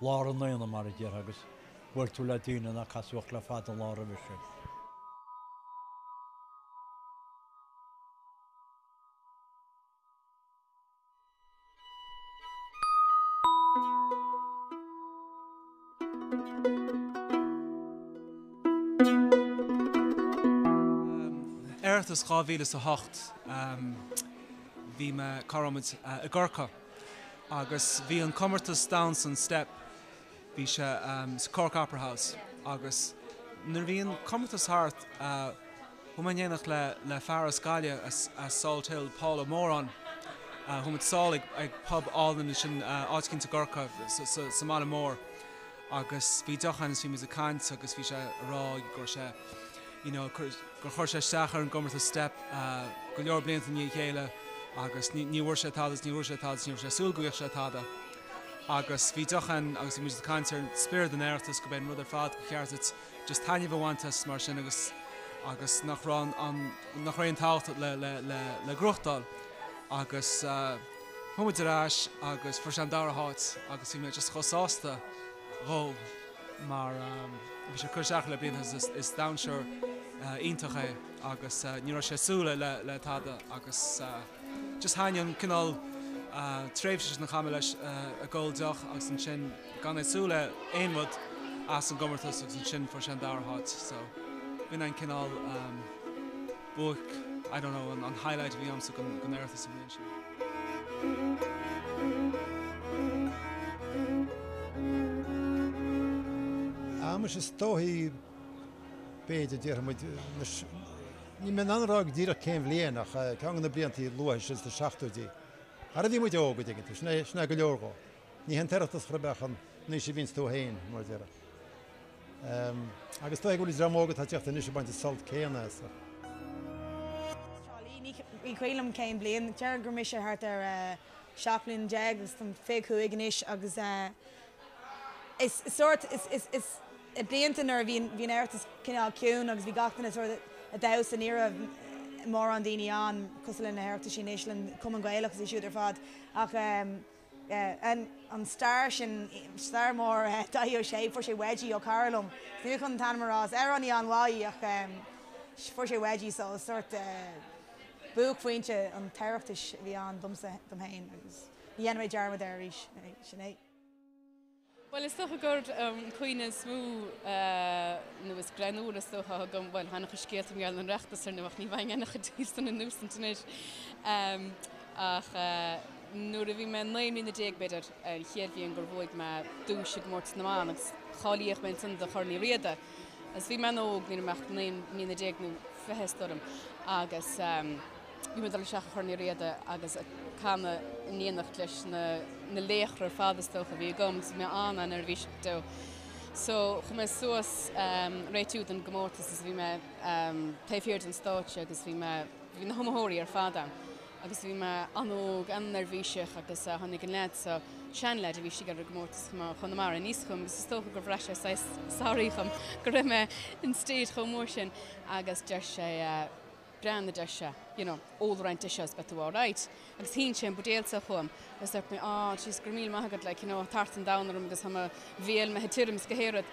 Lár an aonaigh, mar a déarfá, agus bhuail tú le daoine nár casadh ort le fada an lá roimhe sin. Oireachtas 2008, bhí mé, cá raibh muid? i gCorcaigh. Agus bhí an comórtas damhsa, an Steip, bhí sé sa Cork Opera House agus nuair a bhí an comórtas thart chuaigh mé in éineacht le fear as Gaillimh, as Salt Hill, Paul Ó Móráin, chuaigh muid sall chuig pub álainn ansin, áit éicint i gCorcaigh, sa mbaile mór agus bhí deoch ann is bhí muid ag caint agus bhí sé ag rá go raibh sé, you know, gur chuir sé isteach ar an gcomórtas Steip go leor blianta i ndiaidh a chéile agus ní bhfuair sé tada is ní bhfuair sé tada is ní raibh sé ag súil go bhfaigheadh sé tada agus bhí deoch ann agus bhí muid ag caint ar spiorad an Oireachtais gurb é an rud ar fad gur cheart duit just taitneamh a bhaint as mar sin agus agus nach raibh an nach raibh aon tábhacht le le le le gnóthachtáil agus chuaigh muid ar ais agus fuair sé an dara háit agus bhí mé just chomh sásta dhó. mar bhí sé curtha isteach le blianta agus is damhsóir iontach é agus ní raibh sé ag súil le tada agus just thaitnigh an cineál tréimhse sin a chaith mé leis ag ól deoch agus ansin gan é ag súil le aon rud as an gcomórtas agus ansin fuair sé an dara háit so b'in an cineál buaic, I don't know, an highlight a bhí agamsa den Oireachtas an bhliain sin. Anois is dóigh, b'fhéidir, déarfaidh muid, anois, níl mé in ann a rá díreach cén bhliain ach ceann de na blianta luatha sin sna seachtóidí, ara bhí muid óg, a dtuigeann tú, sin é go leor dhó. Ní hé an tOireachtas ar chor ar bith é, an aois a bhíonns tú féin, mar a déarfá. Agus tá fhios agam go bhfuil dream óg atá ag teacht anois ag baint an sult céanna as. An. Tralee? Ní cuimhin liom cén bliain, déarfainn go raibh mise thart ar a seacht mbliana déag agus táim fiche cúig anois agus is sórt, is, is, is i blianta nuair a bhí an, bhí an tOireachtas cineál ciúin agus bhí gach duine sórt a, ag damhsa, ní raibh mórán daoine ann cosúil le na hOireachtaisí anois, leis an gCumann Gaelach is iad siúd ar fad ach. an star sin, star mór Dáithí Ó Sé. Fuair sé Wedgie ó chara liom, ní bheidh mé chun an t-ainm a rá ar an aer ná a dhath ach fuair sé Wedgie so is sórt buaicphointe an Oireachtais a bhí ann domsa, dom féin agus ní dhéanfaidh mé dearmad air arís, sin é. Bhuel, is dócha gur an cuimhne is mó nó is greannmhaire is dócha a thugaim, bhuel, tá ana-chuid scéalta i ngeall ar an Oireachtais ar ndóigh ach ní bhféadfainn aon chuid díobhsan a insint anois, ach nuair a bhí mé naoi mbliana déag, b'fhéidir, an chéad bhliain gur bhuaigh mé duais i gcomórtas na mban agus cháilíodh mé ansin do Chorn Uí Riada agus bhí mé an-óg, ní raibh mé ach naoi mbliana déag nó fiche is dóigh liom, agus. Bhí mé ag dul isteach i gCorn Uí Riada agus ag canadh in éineacht leis na laochra ar fad is dócha a bhí agam so bhí mé an-neirbhíseach so chuaigh mé suas ag réiteach don gcomórtas is bhí mé taobh thiar den stáitse agus bhí mé, bhí na hiomaitheoirí ar fad ann agus bhí mé an-óg, an-neirbhíseach agus tháinig an leaid so, seanleaid a bhí istigh ar an gcomórtas ó Chonamara aníos chugam agus is dócha gur bhraith sé saghas sorry dhom go raibh mé in stage chomh mór sin agus deir sé. breathnaigh anseo, you know, ól roinnt de seo is beidh tú alright. Agus shín sé an buidéal so chugam agus dúirt mé, ah, jeez, go raibh míle maith agat, like, you know, tart an domhain orm agus tá mo bhéal, mé tirim is gach aon rud.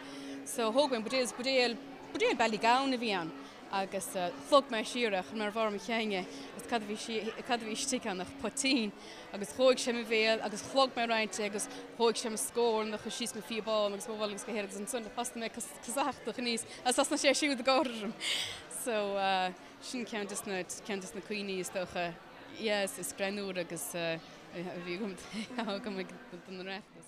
So thóg mé an buidéal, is buidéal, buidéal Ballygown a bhí ann agus shlog mé siar é, chuir mé ar bharr mo chinn é agus cad a bhí sí, cad a bhí istigh ann ach poitín agus dhóigh sé mo bhéal agus shlog mé roinnt de agus dhóigh sé mo scornach síos mo phíobán agus mo mhuineál is gach aon rud agus ansan, thosaigh mé ag casachtach aníos agus thosnaigh sé siúd ag gáire orm. So, sin ceann des na, ceann des na cuimhní is dócha, yes, is greannmhaire a bhí agam, atá agam ag an Oireachtas.